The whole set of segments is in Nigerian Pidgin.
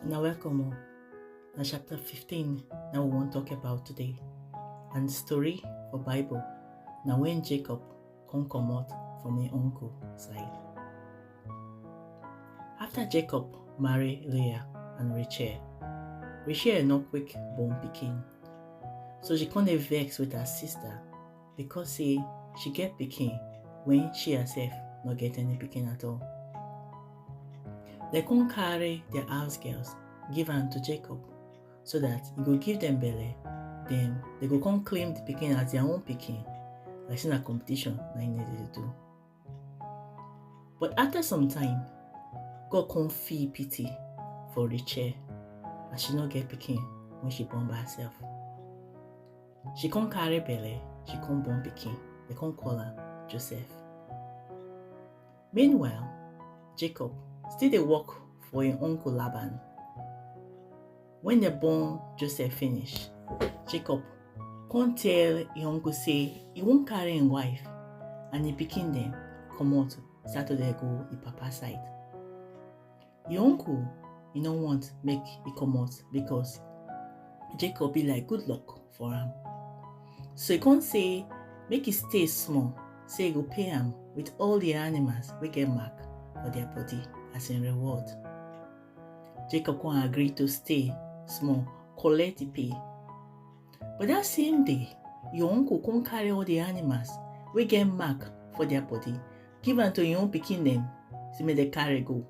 Now welcome all. Now chapter 15 now we wan talk about today. And story for Bible na when Jacob come comot from im uncle side. After Jacob marry Leah and Rachel, Rachel no quick born pikin. So she come dey vex with her sister because say she get pikin when she herself no get any pikin at all. They come carry their house girls give am to Jacob so that he go give them belle then they go come claim the pikin as their own pikin like say na competition na im dem dey do. But after some time, God come feel pity for Rachel as she no get pikin when she born by herself. She come carry belle, she come born pikin, they come call am Joseph. Meanwhile, Jacob still dey work for im uncle Laban. When they born Joseph finish, Jacob come tell him uncle say he won't carry him wife and he picking them come out Saturday go his papa side. His uncle he no want make he come out because Jacob be like good luck for him. So he come say make he stay small say he go pay him with all the animals we get mark for their body as in reward. Jacob come agree to stay small, collect the pay. But that same day, your uncle come carry all the animals wey get mark for their body, give am to your own pikin dem, say make dem carry go.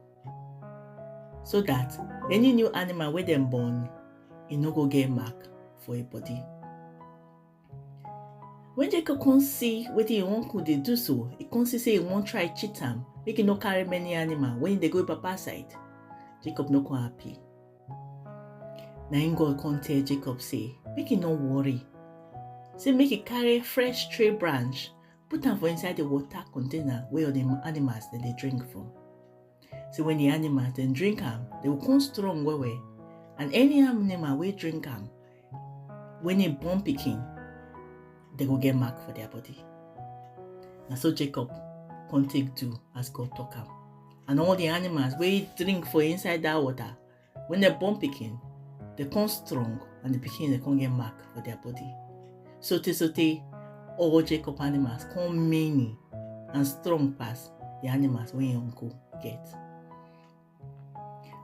So that any new animal wey dem born, e no go get mark for e body. When Jacob come see wetin im uncle dey do so, he come see say he wan try cheat am make he no carry many animal when he dey go papa side. Jacob no come happy. Na im God come tell Jacob say make he no worry. Say make he carry fresh tree branch put am for inside the water container wey all the animals dem dey drink from. Say when the animals dem drink am, they go come strong well well and any animal wey drink am when im born pikin dem go get mark for their body na so jacob come take do as god talk am and all the animals wey drink for inside that water when dem born pikin dem come strong and the pikin dem come get mark for their body so tey so tey all jacob animals come many and strong pass the animals wey im uncle get.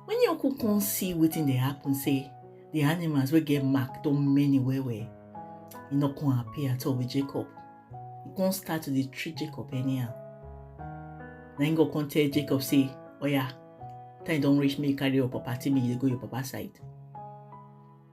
When your uncle come see wetin dey happen say the animals wey get mark don many well well, e no come happy at all with Jacob. E come start to dey treat Jacob anyhow. Na him go come tell Jacob say, oya, time don reach make you carry your property make you dey go your papa side.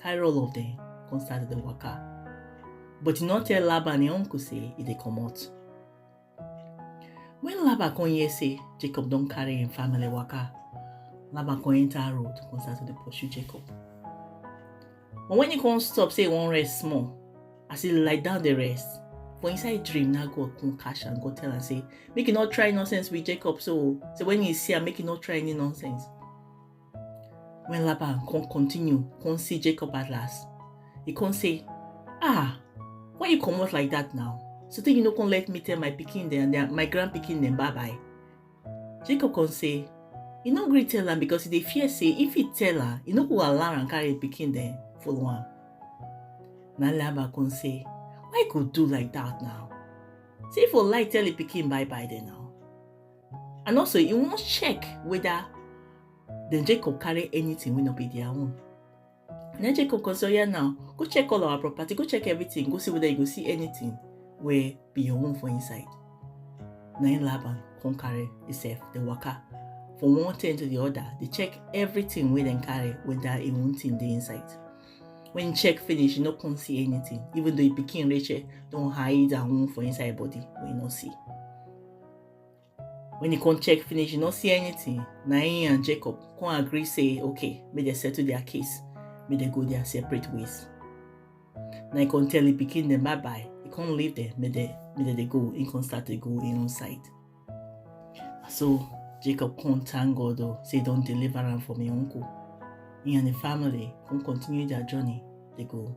carry all of them come start the waka but he not tell laban him uncle say he dey comot when laban come hear say jacob don carry him family waka laban come enter road come start to dey pursue jacob but when he come stop say he wan rest small as he lie down dey rest for inside dream na god come catch am go tell am say make he no try nonsense with jacob so so when he see am make he no try any nonsense When Laban come continue, come see Jacob at last, he come say, Ah, why you come out like that now? So then you no come let me tell my picking them and my grand picking them bye bye. Jacob come say, You no great tell them because they fear say if he tell her, you no go allow and carry the picking them for one. Now Laban come say, Why you go do like that now? Say for lie tell the picking bye bye then now. and also e wan check whether dem jacob carry anything wey no be their own and then jacob come say oya now go check all our property go check everything go see whether you go see anything wey be your own for inside na him laban come carry himself dey waka from one tent to the other dey check everything wey dem carry whether e own thing dey inside when he check finish he no come see anything even though him pikin rachel don hide her own for inside body wey he no see when he come check finish he no see anything na him and jacob come agree say okay make dem settle their case make dem go their separate ways na he come tell him pikin dem bye bye he come leave them make dem make dem dey go he come start dey go him own side so jacob come thank god o say he don deliver am from him uncle he and him family come continue their journey dey go